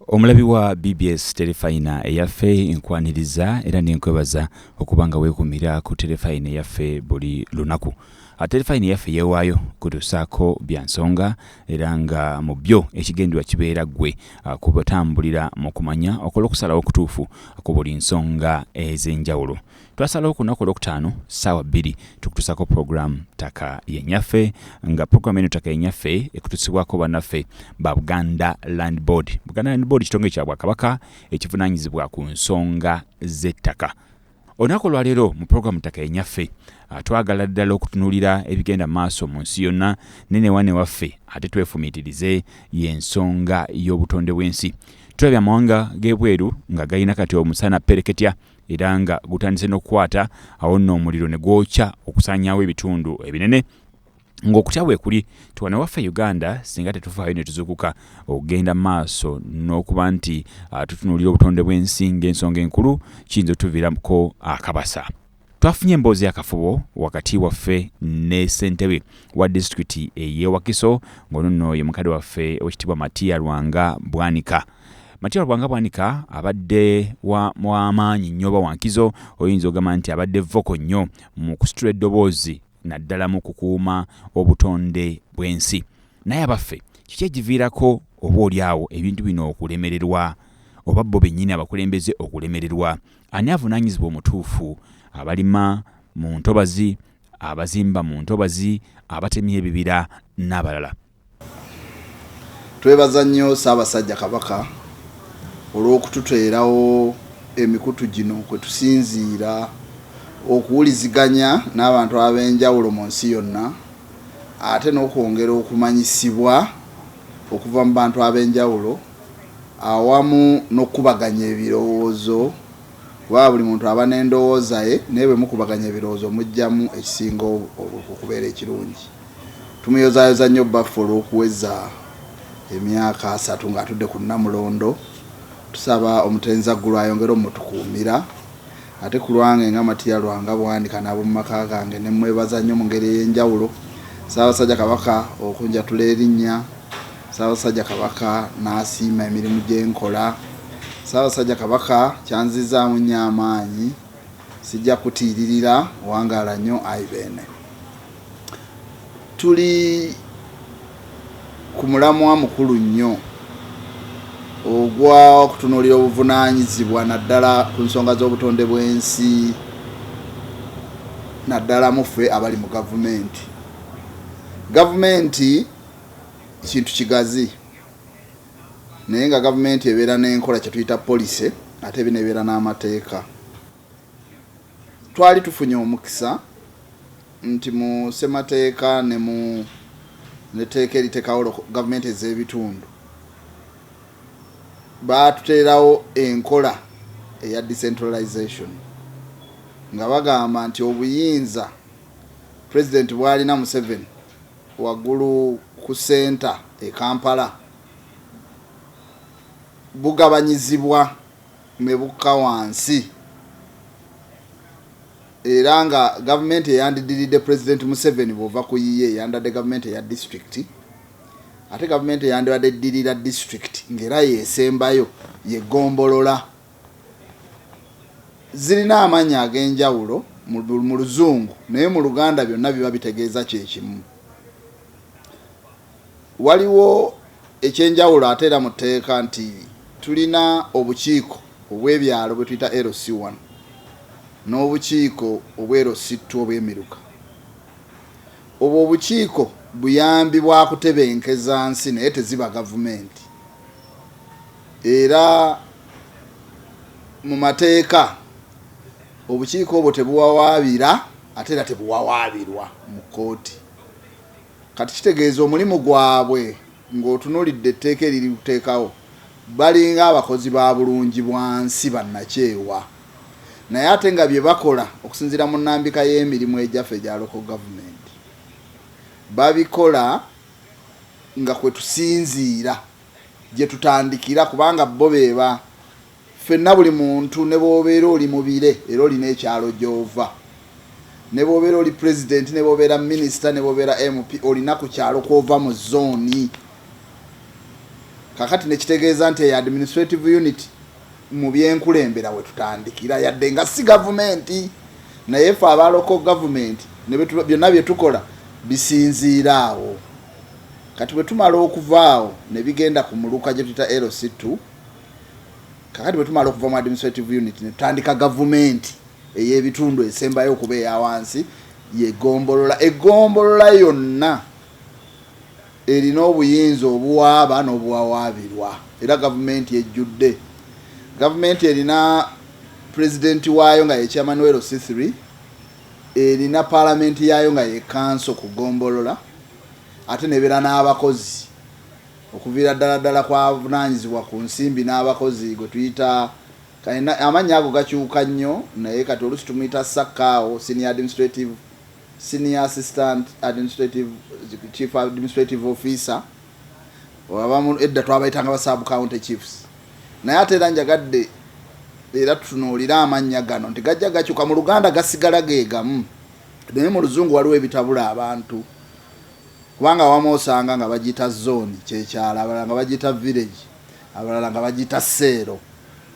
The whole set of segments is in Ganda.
Omulabi wa BBS Terefayina eyaffe nkwaniriza era nenkwebaza okuba nga weekumira ku Terefayina eyaffe buli lunaku. Ah, Terefayina eyaffe yeewaayo kutusaako bya nsonga era nga mu byo ekigendwa kibeera ggwe ah, kubatambulira mu kumanya okola okusalawo okutuufu ku buli nsonga ez'enjawulo. twasalawo ku lunaku olwokutaano ssaawa bbiri tukutusako pulogulaamu ttaka yenyaffe nga pulogulaamu eno ttaka yenyaffe ekutusibwako bannaffe ba buganda land board buganda land board kitongole kya bwakabaka ekivunaanyizibwa ku nsonga z'ettaka olunaku olwaleero mu pulogulaamu ttaka yenyaffe ah, twagala ddala okutunulira ebigenda maaso mu nsi yonna nenewane waffe ate twefumiitirize y'ensonga y'obutonde bw'ensi tulabye amawanga g'ebweru nga galina kati omusana pereketya era nga gutandise n'okukwata awo nno omuliro ne gwokya okusaanyaawo ebitundu ebinene ng'okutya weekuli tuwane waffe uganda singa tetufaayo ne tuzukuka okugenda maaso n'okuba nti ah, tutunuulira obutonde bw'ensi ng'ensonga enkulu kiyinza otuviirako akabasa twafunye emboozi yakafubo wakati waffe ne ssentebe wa disitulikiti eyewakiso ng'ono nno ye mukadde waffe owekitiibwa matiya lwanga bwanika Matia Bwanga Bwanika abadde w'amaanyi nnyo oba wankizo oyinza ogamba nti abadde voko nnyo mu kusitula eddoboozi naddala mu kukuuma obutonde bw'ensi naye abaffe kiki ekiviirako oba oli awo ebintu bino okulemererwa oba bo bennyini abakulembeze okulemererwa ani avunaanyizibwa omutuufu abalima mu ntobazi abazimba mu ntobazi abatemya ebibira n'abalala Twebaza nnyo Ssaabasajja Kabaka olw'okututeerawo emikutu gino kwe tusinziira okuwuliziganya n'abantu ab'enjawulo mu nsi yonna ate n'okwongera okumanyisibwa okuva mu bantu ab'enjawulo awamu n'okukubaganya ebirowoozo kuba buli muntu aba n'endowooza ye naye bwe mukubaganya ebirowoozo mujjamu ekisinga okubeera ekirungi. Tumuyozaayoza nnyo bbaffe olw'okuweza emyaka asatu ng'atudde ku Nnamulondo. Tusaba omutenzi Zaggulu ayongere omutukuumira. Ate ku lwange nga Matia Lwanga Bwanika n'ab'omu maka gange ne mmwebaza nnyo mu ngeri ey'enjawulo. Ssaabasajja Kabaka okunjatula erinnya, Ssaabasajja Kabaka n'asiima emirimu gye nkola, Ssaabasajja Kabaka kyanzizzaamu nnyo amaanyi. Sijja kutiiririra. Wangaala nnyo Ayi Beene. Tuli ku mulamwa mukulu nnyo ogw'okutunuulira obuvunaanyizibwa naddala ku nsonga z'obutonde bw'ensi naddala mu ffe abali mu gavumenti. Gavumenti kintu kigazi naye nga gavumenti ebeera n'enkola kye tuyita policy ate eba n'ebeera n'amateeka. Twali tufunye omukisa nti mu ssemateeka ne mu etteeka eritekawo gavumenti ez'ebitundu baatuteerawo enkola eya decentralization nga bagamba nti obuyinza pulezidenti bwalina Museveni waggulu ku senta e Kampala bugabanyizibwa ne bukka wansi era nga gavumenti eyandidiridde Pulezidenti Museveni bw'ova ku yiye yandibadde gavumenti eya disitulikiti ate gavumenti eyandibadde eddirira disitulikiti ng'era yeesembayo ye ggombolola zirina amannya ag'enjawulo mu luzungu naye mu luganda byonna biba bitegeeza kye kimu. Waliwo ekyenjawulo ate era mu tteeka nti tulina obukiiko obw'ebyalo bwe tuyita LC one n'obukiiko obwe LC two obw'emiruka. Obwo obukiiko buyambi bwa kutebenkeza nsi naye teziba gavumenti era mu mateeka obukiiko obwo tebuwawaabira ate era tebuwawaabirwa mu kkooti. Kati kitegeeza omulimu gwabwe ng'otunulidde etteeka eririteekawo balinga abakozi ba bulungi bwansi bannakyewa naye ate nga bye bakola okusinziira mu nnambika y'emirimu egyafe egya Local Government babikola nga kwe tusinziira gye tutandikira kubanga bo be Ffenna buli muntu ne bw'obeera oli mu bire era olina ekyalo gy'ova, ne bw'obeera oli Pulezidenti, ne bw'obeera minisita, ne bw'obeera MP, olina ku kyalo kw'ova mu zooni. Kaakati ne kitegeeza nti eyo administrative unit mu byenkulembera we tutandikira, yadde nga si gavumenti, naye ffe aba local government ne byonna bye tukola bisinziira awo. Kati bwe tumala okuva awo ne bigenda ku muluka gye tuyita LC2, kakati bwe tumala okuva mu administrative unit ne tutandika gavumenti ey'ebitundu esembayo okuba eya wansi yegombolola egombolola yonna erina obuyinza obuwaaba n'obuwawaabirwa era gavumenti ejjudde gavumenti erina pulezidenti waayo nga yekya manuel sithry erina paalamenti yaayo nga yekanso ku gombolola ate nebeera n'abakozi okuviira ddala ddala ku avunaanyizibwa ku nsimbi n'abakozi gwe tuyita kayina, amannya ago gakyuka nnyo naye kati oluusi tumuyita ssakkaawo, senior administrative, senior assistant administrative, chief administrative officer, abamu edda twabayitanga ba sub county chiefs naye ate era njagadde era tutunuulire amannya gano nti gajja gakyuka mu luganda gasigala ge gamu naye mu luzungu waliwo ebitabula abantu kubanga awamu osanga nga bagiyita zooni kyekyalo abalala nga bagiyita village abalala nga bagiyita seero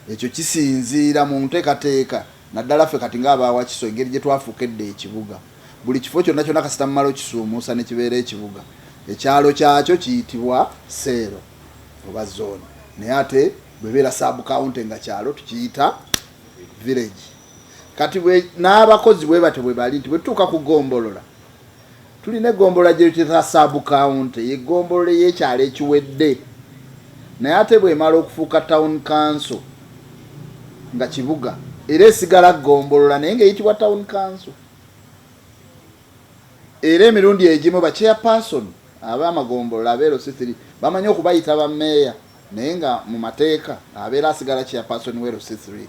ekyo kisinziira mu nteekateeka naddala ffe kati ng'abaawakiso engeri gye twafuuka edda ekibuga buli kifo kyonna kyonna kasita mumala okisuumuusa ne kibeera ekibuga ekyalo kyakyo kiyitibwa seero oba zooni naye ate bwebeera sabukawunti nga kyalo tukiyita village kati n'abakozi bwe batyo bwe bali nti bwe tutuuka ku gombolola Tulina eggombolola gye tuyita saabukaawunti ye ggombolola ey'ekyalo ekiwedde naye ate bw'emala okufuuka tawuni kanso nga kibuga era esigala ggombolola naye ng'eyitibwa tawuni kanso era emirundi egimu bachairpersoni abamagombolola abeero si thiri bamanyi okubayita bameeya naye nga mu mateeka abeera asigala chairpersoni weero si thiri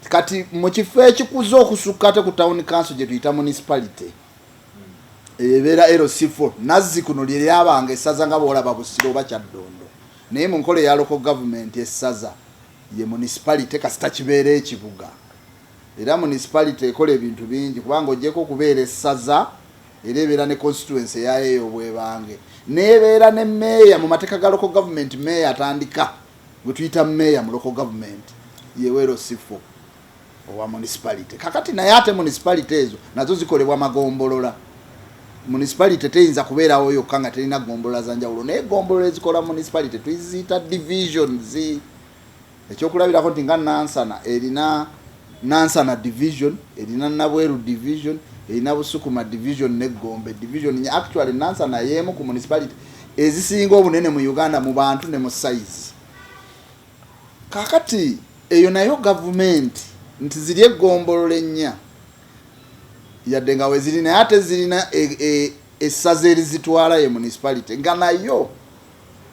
kati mu kifo ekikuza okusukka ate ku town council gye tuyita municipality ebeera lc4 nazzi kuno lye lyabanga essaza nga bwolaba busiro oba kyaddondo naye mu nkola eya local government essaza ye municipality kasita kibeera ekibuga era municipality ekola ebintu bingi kubanga ojeko okubeera essaza era ebeera ne constituency eyayo eyobwebange nebeera ne meeya mu mateeka ga local government meeya atandika gwe tuyita mayor mu local government yewero sifo owa municipality kakati naye ate municipality ezo nazo zikolebwa magombolola municipality teyinza kubeerawo yokka nga terina gombolola za njawulo naye gombolola ezikola municipality tuyiziyita divisions ekyokulabirako nti nga nansana erina Nansana division erina Nabweru division, erina Busukuma division ne Gombe division nnya. Actually Nansana y'emu ku municipality ezisinga obunene mu Uganda mu bantu ne mu size. Kakati eyo nayo government nti ziri eggombolola ennya yadde nga weziri naye ate zirina e, e, essaza erizitwala ye municipality nga nayo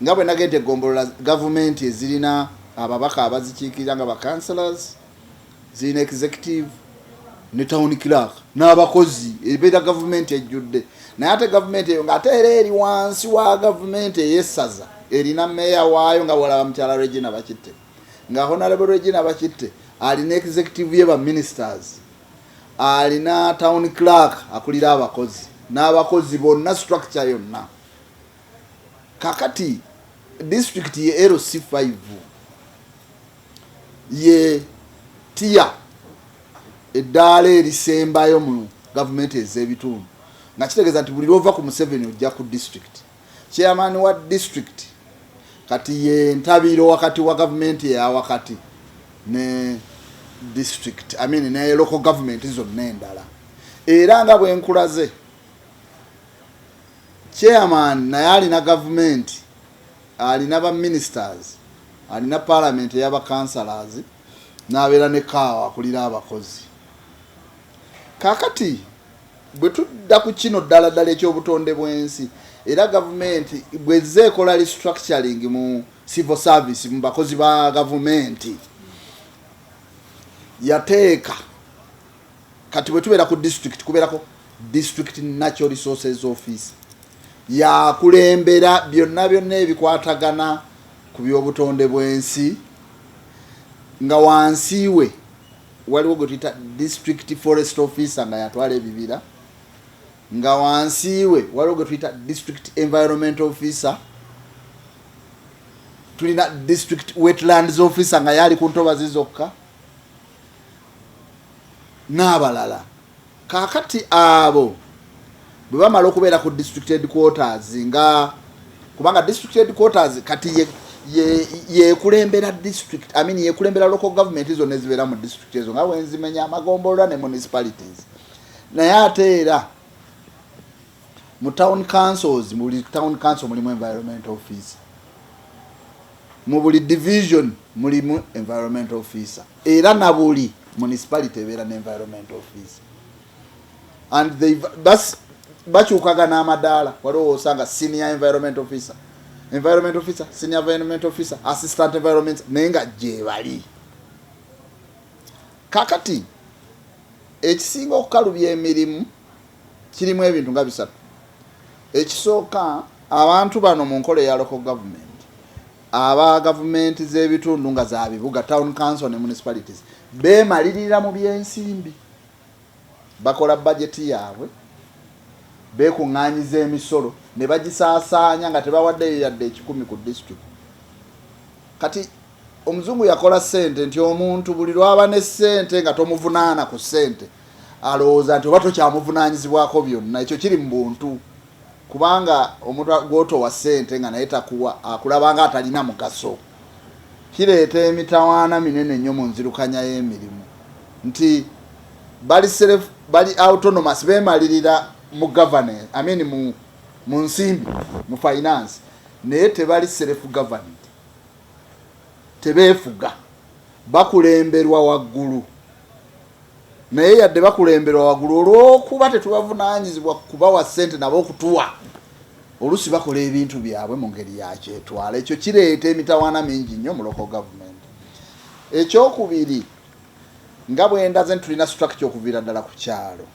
Nga bwe nagenda e Gombolola, Gavumenti ezirina ababaka abazikiikirira nga ba Councillors, zirina Executive, ne town clerk n'abakozi ebeera gavumenti ejjudde naye ate gavumenti eyo ng'ate era eri wansi wa gavumenti ey'essaza erina meeya waayo nga bwolaba mukyala regina bakitte nga honarable regina bakitte alina executive ye baministers alina town clerk akulira abakozi n'abakozi bonna structure yonna kakati disitulikiti ye lc 5 ye tiya eddaala erisembayo mu gavumenti ez'ebitundu nga kitegeeza nti buli lwova ku museveni ojja ku disitulikiti chairman wa disitulikiti kati ye ntabiiro wakati wa gavumenti eyawakati ne disitulikiti amin ne local gavumenti zonna endala era nga bwenkulaze Chairman naye alina gavumenti, alina ba ministers, alina parliament eyaba councillors, nabeera ne kaawa akulira abakozi. Kakati bwe tudda ku kino ddala ddala ekyobutonde bwensi era gavumenti bwezze ekola restructuring mu civil service mu bakozi ba gavumenti yateeka kati bwe tubeera ku district kubeerako district natural resources office yakulembera byonna byonna ebikwatagana ku by'obutonde bw'ensi nga wansi we waliwo gwe tuyita district forest officer nga yatwala ebibira nga wansi we waliwo gwe tuyita district environment officer tulina district wetlands officer nga yaali ku ntobazi zokka n'abalala. Kaakati abo bwe bamala okubeera ku district headquarters nga kubanga district headquarters kati ye yekulembera district I mean yekulembera local government zonna ezibeera mu district ezo nga wenzimenya amagombolola ne municipalities naye ate era mu town councils buli town council mulimu environment office Mu buli division mulimu environmental officer era na buli municipality ebeera ne environmental officer and they bas bakyukagana amadaala waliwo osanga senior environment officer environment officer senior environment officer assistant environment naye nga gyebali kakati ekisinga okukalubya emirimu kirimu ebintu nga bisatu. Ekisooka, abantu bano mu nkola eya local government, aba gavumenti z'ebitundu nga za bibuga, town council ne municipalities, beemalirira mu by'ensimbi. Bakola bajeti yaabwe, beekuŋŋaanyiza emisolo ne bagisaasaanya nga tebawaddeyo yadde ekikumi ku disitulikiti. Kati omuzungu yakola ssente nti omuntu buli lw'aba ne ssente nga tomuvunaana ku ssente, alowooza nti oba tokyamuvunanyizibwako byonna ekyo kiri mu buntu kubanga omuntu gwotowa ssente nga naye takuwa akulabanga atalina mugaso kireeta emitawaana minene nnyo mu nzirukanya y'emirimu nti bali self bali autonomous bemalirira mu governance I mean mu mu nsimbi mu finance naye tebali self governed tebeefuga bakulemberwa waggulu naye yadde bakulemberwa wagulu olwokuba tetubavunanyizibwa kubawa sente nabo okutuwa olusi bakola ebintu byabwe mu ngeri yakyetwala ekyo kireeta emitawaana mingi nnyo muloko gavumenti ekyokubiri nga bwendaze nti tulina structure okuviira ddala ku kyalo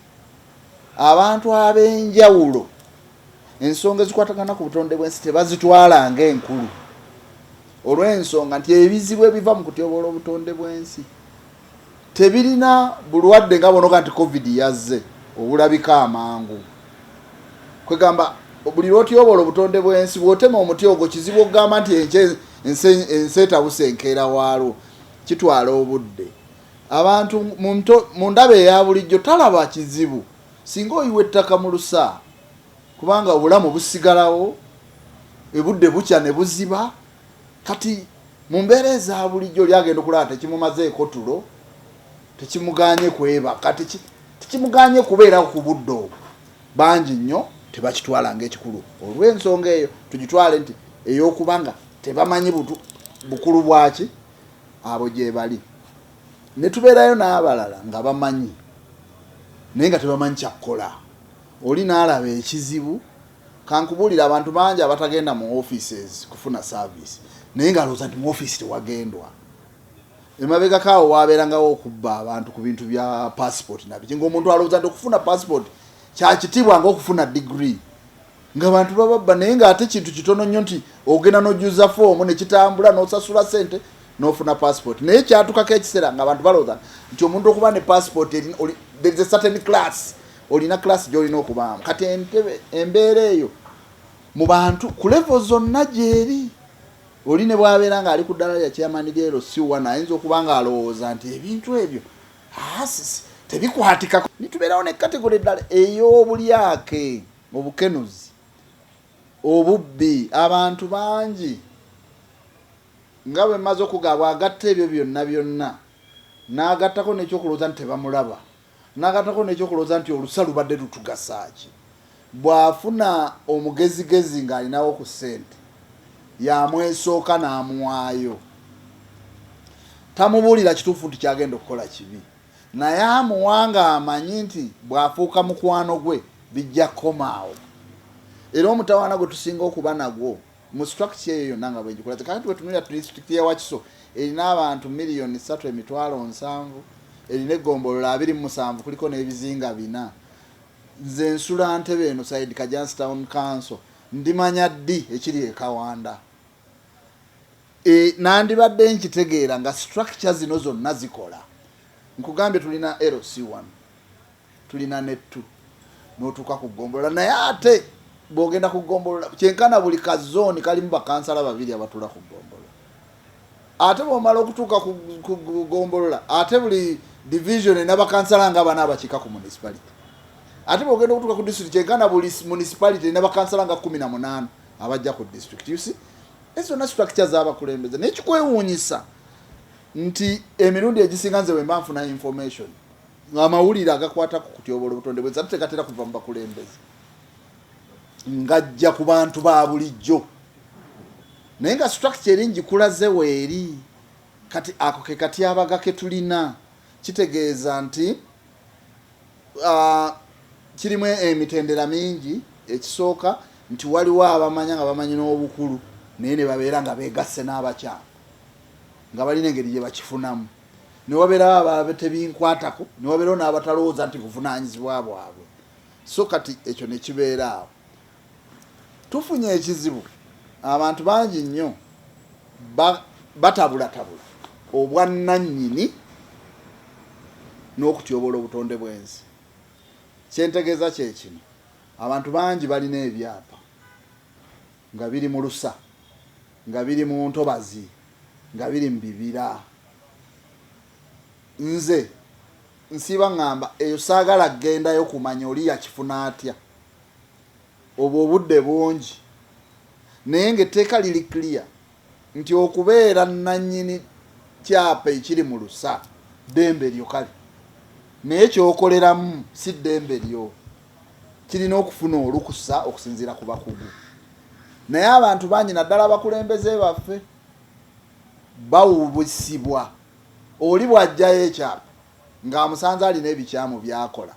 abantu ab'enjawulo ensonga ezikwatagana ku butonde bwensi tebazitwala nga enkulu olw'ensonga nti ebizibu ebiva mu kutyoboola obutonde bwensi Tebirina bulwadde nga bonoga nti covid yazze obulabika amangu. Kwegamba buli lwotyobola obutonde bwensi bwotema omuti ogwo kizibu okugamba nti enky ensi etabuse enkeera waalwo kitwala obudde abantu mu ndaba eyabulijjo talaba kizibu singa oyiwa ettaka mu lusa kubanga obulamu busigalawo ebudde bukya ne buziba Kati mu mbeera eza bulijjo oli agenda okulaba tekimumazeeko tulo, tekimuganye kwebaka, tekimuganye kubeerawo ku budde obwo. Bangi nnyo tebakitwala ng'ekikulu. Olw'ensonga eyo tugitwale nti ey'okuba nga tebamanyi bukulu bwaki abo gyebali ne tubeerayo n'abalala nga bamanyi naye nga tebamanyi kyakukola oli n'alaba ekizibu Kankubulire abantu bangi abatagenda mu offices kufuna service naye nga alowooza nti mu office tewagendwa. Emabegako awo wabeerangawo okubba abantu ku bintu bya passport nabiki nga omuntu alowooza nti okufuna passport kyakitiibwa nga okufuna degree nga bantu bababba naye nga ate kintu kitono nnyo nti ogenda nojuza foomu nekitambula nosasula sente nofuna passport naye kyatukako ekiseera nga abantu balowooza nti omuntu okuba ne passport there is a certain class olina class gyolina okubaamu kati entebe embeera eyo mu bantu ku levo zonna gyeri oli ne bwabeera nga ali ku ddala lya chairman lyero siwana ayinza okuba nga alowooza nti ebintu ebyo asisi ah, tebikwatikako nitubeerawo ne kategole eddala ey'obulyake obukenuzi obubbi abantu bangi nga bwe mmaze okugaabwa agatta ebyo byonna byonna n'agattako n'ekyokulowooza nti tebamulaba N'agattako n'ekyokulowooza nti olusa lubadde lutugasa ki? Bw'afuna omugezigezi ng'alinawo ku ssente y'amwesooka n'amuwaayo. Tamubuulira kituufu nti ky'agenda okukola kibi naye amuwa ng'amanyi nti bw'afuuka mukwano gwe bijja kukoma awo. Era omutawaana gwe tusinga okuba nagwo mu structure eyo yonna nga bwegikulaze kakati wetunulira district ya wakiso erina abantu miliyoni satu emitwalo nsanvu erina egombolola abiri musanvu kuliko n'ebizinga bina nze nsula ntebe eno side kajansi town council ndimanya ddi ekiri ekawanda e, nandibadde nkitegeera nga structure zino zonna zikola nkugambye tulina lc1 tulina nettu notuuka ku gombolola naye ate bwogenda ku gombolola kyenkana buli ka zooni kalimu bakansala babiri abatula ku gombolola ate bwomala okutuuka ku gombolola ate buli division erina bakansala nga bana abakiika ku municipality ate bwogenda okutuuka ku district kyenkana buli municipality erina bakansala nga kumi na munaana abajja ku district usi ezo zonna structure zabakulembeze naye kikwewuunyisa nti emirundi egisinga nze wemba nfuna information Amawulire agakwata ku kutyoboola obutonde bwensi ate tegatera kuva mu bakulembeze, ngajja ku bantu ba bulijjo, naye nga structure eri ngikulaze weeri. Kati ako ke katyabaga ke tulina, kitegeeza nti uh, kirimu emitendera mingi. Ekisooka nti waliwo abamanya nga bamanyi n'obukulu naye ne babeera nga beegasse n'abakyala nga balina engeri gye bakifunamu. ne wabeerawo abaabe tebinkwatako ne wabeerawo n'abatalowooza nti buvunaanyizibwa bwabwe so kati ekyo ne kibeera awo tufunye ekizibu abantu bangi nnyo batabulatabula obwannannyini n'okutyoboola obutonde bw'ensi kyentegeeza kye kino abantu bangi balina ebyapa nga biri mu lusa, nga biri mu ntobazi, nga biri mu bibira. Nze nsiiba ŋŋamba eyo saagala kugendayo kumanya oli yakifuna atya. Obwo obudde bungi naye ng'etteeka liri clear nti okubeera nannyini kyapa ekiri mu lusa ddembe lyo kale naye kyokoleramu si ddembe lyo kirina okufuna olukusa okusinziira ku bakugu naye abantu bangi naddala abakulembeze baffe bawubusibwa oli bw'ajjayo ekyapa ng'amusanze alina ebikyamu by'akola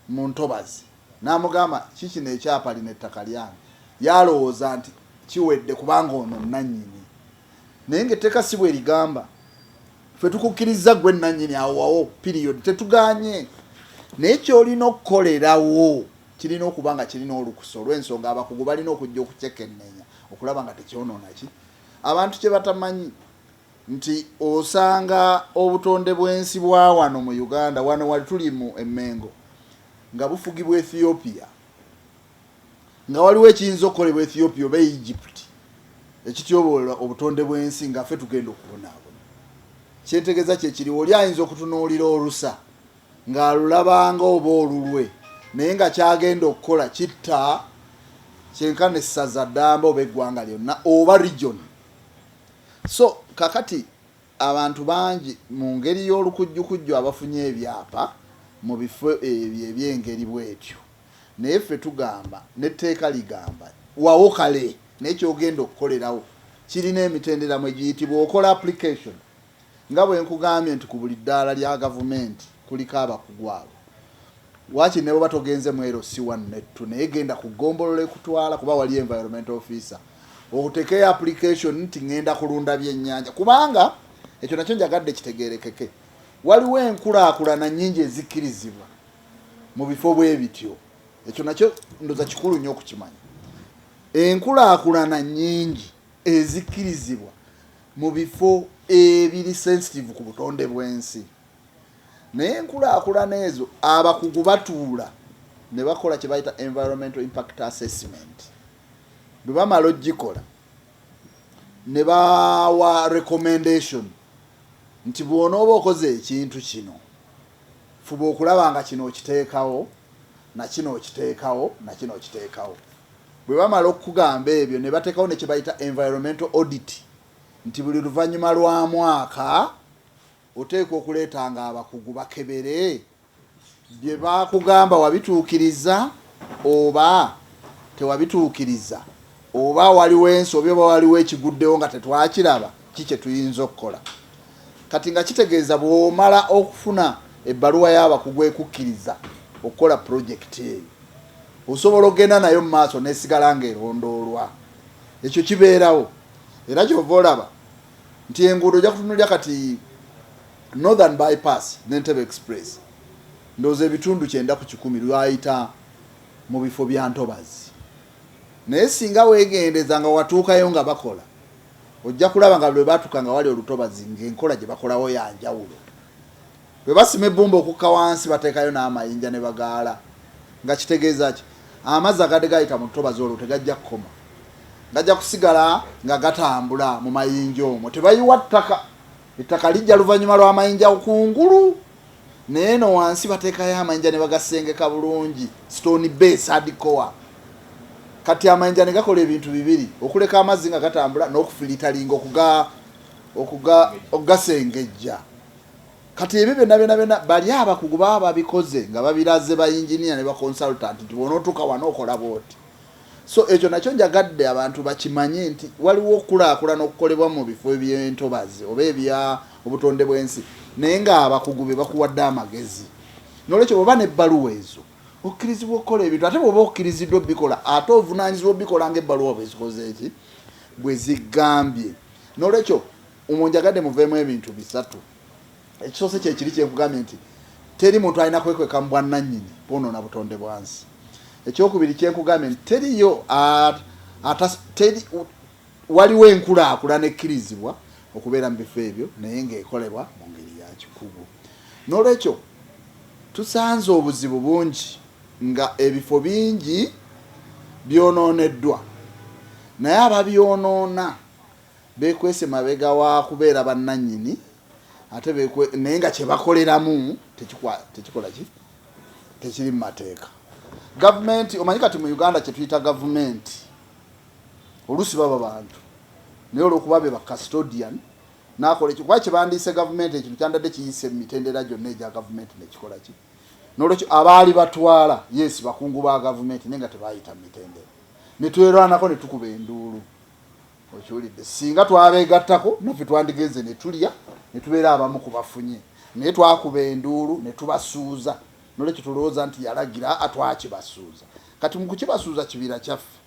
mu ntobazi n'amugamba ki kino ekyapa lino ettaka lyange yalowooza nti kiwedde kubanga ono nnannyini naye ng'etteeka si bwe ligamba ffe tukukkirizza ggwe nnannyini awowawo piriyodi tetuganye naye kyolina okukolerawo kirina okuba nga kirina olukusa olw'ensonga abakugu balina okujja okukyekennenya okulaba nga tekyonoona ki abantu kye batamanyi nti osanga obutonde bwensi bwawano mu Uganda wano wali tuli mu emengo nga bufugibwa Ethiopia nga waliwo ekiyinza okukolebwa Ethiopia oba Egypt ekityobola obutonde bwensi nga fe tugenda okubonaabona kyentegeza kyekiriwo oli ayinza okutunuulira olusa ng'alulabanga oba olulwe naye nga kyagenda okukola kitta kyenkana essaza ddamba oba eggwanga lyonna oba region So kakati abantu bangi mu ngeri y'olukujjukujju abafunye ebyapa mu bifo ebyo eby'engeri bw'etyo. Naye ffe tugamba, n'etteeka ligamba, wawo kale, naye ky'ogenda okukolerawo kirina emitendera mwe giyitibwa, okola application. Nga bwe nkugambye nti ku buli ddaala lya Gavumenti kuliko abakugu abo. Waakiri ne bw'oba togenze mu LC wanu n'ettu naye genda ku ggombolola ekutwala kuba waliyo Environmental Officer otekeyo application nti ng'enda kulunda byennyanja kubanga ekyo nakyo njagadde kitegeerekeke. Waliwo enkulaakulana nnyingi ezikkirizibwa mu bifo bwe bityo. Ekyo nakyo ndoza kikulu nnyo okukimanya. Enkulaakulana nnyingi ezikkirizibwa. mu bifo ebiri sensitive ku butonde bw'ensi naye enkulaakulana ezo abakugu batuula ne bakola kye bayita environmental impact assessment bwe bamala ogikola ne bawa recommendation nti bw'onooba okoze ekintu kino fuba okulaba nga kino okiteekawo na kino okiteekawo na kino okiteekawo Bwe bamala okukugamba ebyo ne bateekawo ne kye bayita environmental audit nti buli luvannyuma lwa mwaka oteekwa okuleetanga abakugu bakebere bye baakugamba wabituukiriza oba tewabituukiriza oba waliwo ensobi oba waliwo ekiguddewo nga tetwakiraba ki kye tuyinza okukola kati nga kitegeeza bw'omala okufuna ebbaluwa y'abakugu ekukkiriza okukola pulojekiti eyo osobola okugenda nayo mu maaso n'esigala ng'erondoolwa ekyo kibeerawo era kyova olaba nti enguudo ojja kutunulira kati northern bypass n'entebe express ndowooza ebitundu kyenda ku kikumi lwayita mu bifo bya ntobazi naye singa weegendeza nga watuukayo nga bakola ojja kulaba nga lwe baatuka nga wali olutobazi ng'enkola gye bakolawo ya njawulo Bwe basima ebbumba okukka wansi bateekayo n'amayinja ne bagaala nga kitegeeza ki? Amazzi agadde gayita mu ntobazi olwo tegajja kukoma, gajja kusigala nga gatambula mu mayinja omwo. Tebayiwa ttaka, ettaka lijja luvannyuma lw'amayinja kungulu naye no wansi bateekayo amayinja ne bagasengeka bulungi stone base hardcore kati amayinja ne gakola ebintu bibiri okuleka amazzi nga gatambula n'okufilitalinga okuga okuga okugasengejja Kati ebyo byonna byonna byonna bali abakugu baba babikoze nga babiraze ba yinginiya ne ba consultant nti bw'onootuuka wano okola bw'oti. So ekyo nakyo njagadde abantu bakimanye nti waliwo okukulaakulana okukolebwa mu bifo eby'entobazi oba ebya obutonde bw'ensi naye ng'abakugu be bakuwadde amagezi. N'olwekyo bw'oba n'ebbaluwa ezo okkirizibwa okukola ebintu ate bw'oba okkiriziddwa obikola ate ovunaanyizibwa obikola ng'ebbaluwa bwe zikoze eki bwe zigambye. N'olwekyo Umo njagadde muveemu ebintu bisatu. Ekisoose kye kiri kye nkugambye nti teri muntu alina kwekweka mu bwannannyini bwonoona butonde bwansi. Ekyokubiri kye nkugambye nti teriyo waliwo enkulaakulana ekkirizibwa okubeera mu bifo ebyo naye ng'ekolebwa mu ngeri ya kikugu. N'olwekyo tusanze obuzibu bungi nga ebifo bingi byonooneddwa naye ababyonoona beekwese mabega wa kubeera bannannyini ate beekwe naye nga kye bakoleramu tekikola ki tekiri mu mateeka gavumenti omanyi kati mu uganda kye tuyita gavumenti oluusi baba bantu naye olwokuba be bacustodian nakola ekyo kuba kyebandiise gavumenti ekintu kyandadde kiyise mu mitendera gyonna egya gavumenti nekikola ki nolwekyo abaali batwala yesi bakungu ba gavumenti naye nga tebayita mu mitendera netwerwanako netukuba enduulu okiwulidde singa twabeegattako naffe twandigenze ne tulya ne tubeera abamu ku bafunye naye twakuba enduulu ne tubasuuza nolwekyo tulowooza nti yalagira atwakibasuuza kati mu kukibasuuza kibira kyaffe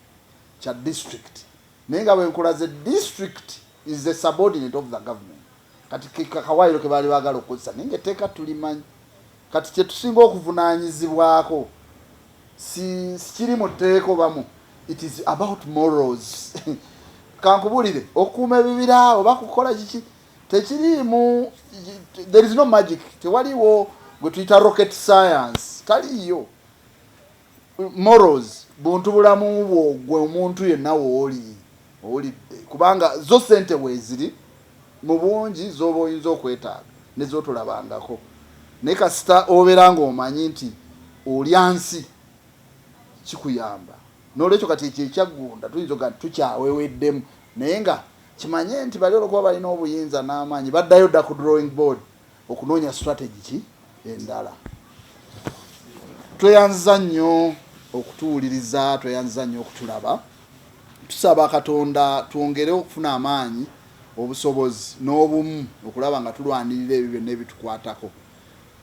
kya disitulikiti naye nga bwenkulaze disitulikiti is the subordinate of the government kati kekawaayiro ke baali baagala okukozesa naye nga etteeka tulimanyi kati kye tusinga okuvunaanyizibwako sikiri mu tteeka obamu it is about morals kankubulire okukuuma ebibira oba kukola kiki tekiriimu there is no magic tewaliwo gwe tuyita rocket science taliiyo Morals buntu bulamu bwo gwe omuntu yenna wooli owulidde kubanga zo ssente weeziri mu bungi z'oba oyinza okwetaaga ne z'otolabangako naye kasita obeera ng'omanyi nti olya nsi kikuyamba n'olwekyo kati ekyo ekyaggunda tuyinza okuga nti tukyaweweddemu naye nga kimanye nti bali olwokuba balina obuyinza n'amaanyi baddayo dda ku drawing board. okunoonya strategy ki endala. Tweyanziza nnyo okutuwuliriza, tweyanziza nnyo okutulaba. Tusaba Katonda twongere okufuna amaanyi, obusobozi n'obumu okulaba nga tulwanirira ebyo byonna ebitukwatako.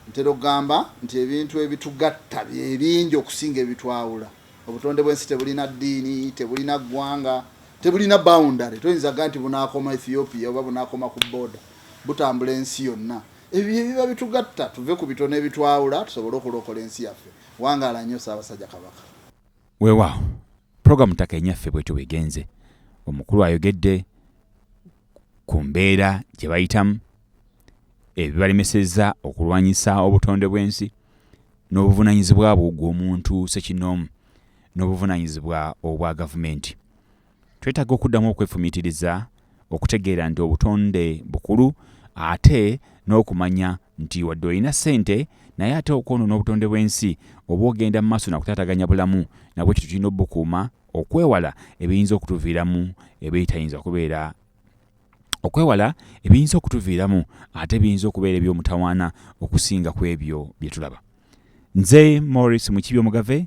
Ntera okugamba nti ebintu ebitugatta bye bingi okusinga ebitwawula. Obutonde bw'ensi tebulina ddiini, tebulina ggwanga, tebulina boundary. Toyinza kugaa nti bunaakoma Ethiopia oba bunaakoma ku border. butambula ensi yonna. Ebyo bye biba bitugatta tuve ku bitono ebitwawula tusobole okulokola ensi yaffe. Wangaala nnyo Ssaabasajja Kabaka. Weewaawo pulogulaamu Ttaka Enyaffe bwetyo bwegenze. Omukulu ayogedde ku mbeera gye bayitamu, ebibalemesezza okulwanyisa obutonde bw'ensi n'obuvunaanyizibwa bwo gw'omuntu ssekinnoomu n'obuvunaanyizibwa obwa gavumenti. Twetaaga okuddamu okwefumiitiriza okutegeera nti obutonde bukulu ate n'okumanya nti wadde olina ssente naye ate okwonoona obutonde bw'ensi oba ogenda mu maaso nakutaataganya bulamu nabwe kityo tulina obukuuma okwewala ebiyinza okutuviiramu ebitayinza kubeera okwewala ebiyinza okutuviiramu ate biyinza okubeera eby'omutawaana okusinga ku ebyo bye tulaba nze morris mukibi omugave